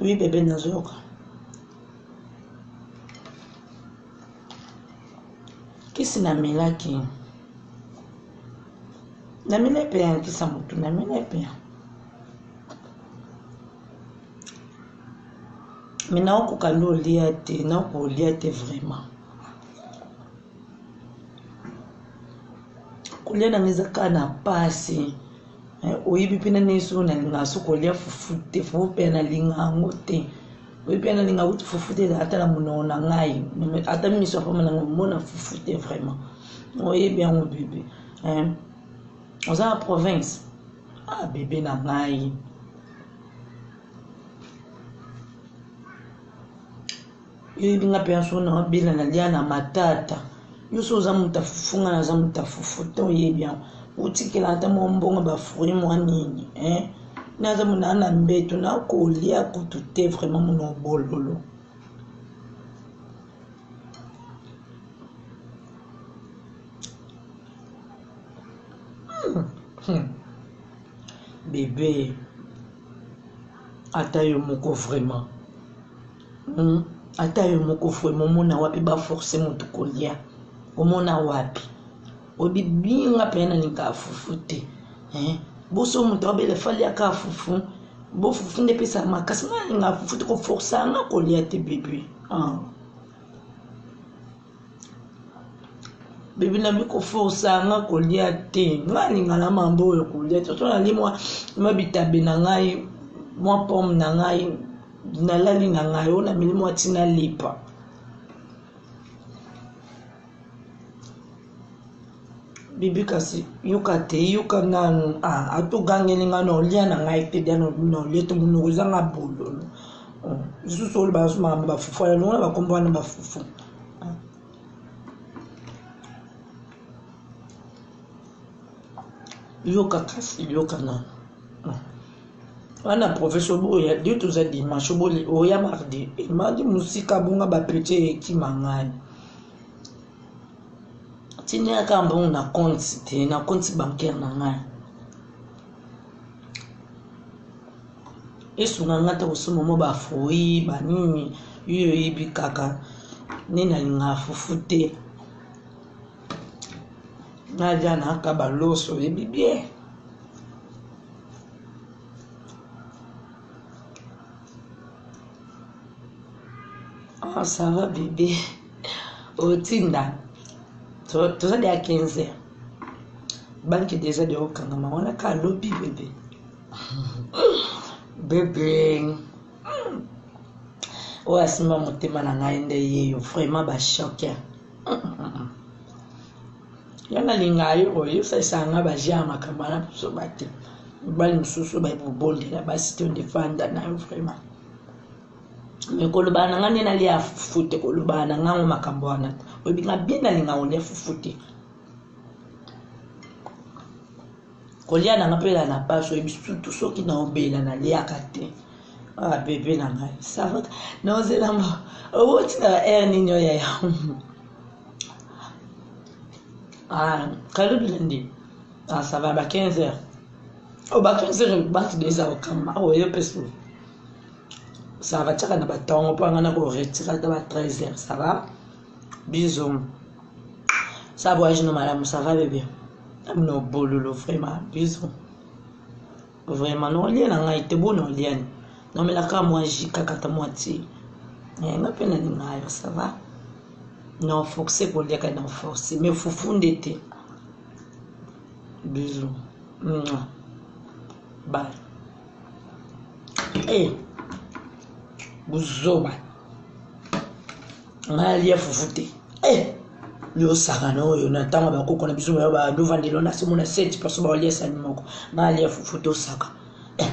Oui, bébé Nazoka. Kisi na melaki. Na mele pe ya kisa mutu na mele pe. Mais na okoka lolia te, na okolia te vraiment. kolia nanga eza kaka na pasi oyebi pe nani soki nalingaka soki kolia fufu te fufu pe nalinga yango te oyebi pe nalinga kutu fufu te ata na munoko na ngai ata misu ya pamba nanga omona fufu te vraiment oyebi yango bebe hein oza na province ah bebe na ngai Oyebi nga penza soki na bela na lia na matata yo soki oza moto ya fufu nga naza moto ya fufu te oyebi yango otikela ata mwa mbongo ba fruit mwa nini eh? naza mona na mbeto nakolia kutu te vraiment mona obololo hmm. Hmm. bebe ata yo moko vraiment Hum ata yo moko vraiment omona wapi ba force mutu kolia omona wapi oyebi binga mpenza na lingaka fufu te eh? boso moto abele fali aka fufu bo fufu nde epesaka makasi nga nalingaka fufu te koforsa nga kolia te bebe ah. bebi na bikoforsa nga kolia te nga alinga na mambo oyo kolia te oto nali mwa mwa bitabe na ngai mwa pomme na ngai nalali na ngai oyo nameli mwa ntina lepa Bibi kasi yoka te yoka nanu ah ato gangeli nga na olia na ngai te dia na olia te munoko eza nga bololo lisusu oyo ba suma ba fufu ya longola ba kombo wana ba fufu yoka kasi yoka nanu wana professeur boya de toza dimanche boli oya mardi emandi musika bonga ba petit ekima ngai tindela kaka mbongo na compte te na compte bancaire na ngai esunga ngai te kosomba mwa bafrui banini yo oyebi kaka nde nalingaka fufu te nalia naka baloso oyebi bien ah, ça va bébé otinda toza de ya 15 banki deja de okangama wana ka lobi bebe bebe oyo asimba motema na ngai nde yeyo vraiment bashoke ya nalinga yo koyosalisa nga baje ya makambo wana biso bate mibali mosusu baye kobondela basi to ndefanda na yo vraiment mais kolobana na nga nde nalia ya fufu te kolobana na ngango makambo wana te oyebi nga bien nalinga kolia fufu te kolia na nga mpela na pasi oyebi sutu soki naobela naliaka te ah bebe na ngai savaka naozelamba owoti na air nini oyo yaya ah kalubi nandi ah ça va ba 15 heures o ba 15 heures batu deja okamba oyo mpe suki ça va tchaka na batongo mpo anga nako retira ata ba 13 heures ça va bisous ça voyage no malamu ça va bebe amino bololo vraiment bisous vraiment no olie na ngai te bona oliani nomelaka mwa ji kaka ta mwa ti eh, nga mpe nalinga yo ça va na force koliaka na force me fufu nde te bisous bye eh buzoba ngai alia fufu te eh liosakana oyo na ntango ya bakoko na biso bayo badovandelo na simo na seti mposo baolia sani moko ngai alia fufu tosaka eh.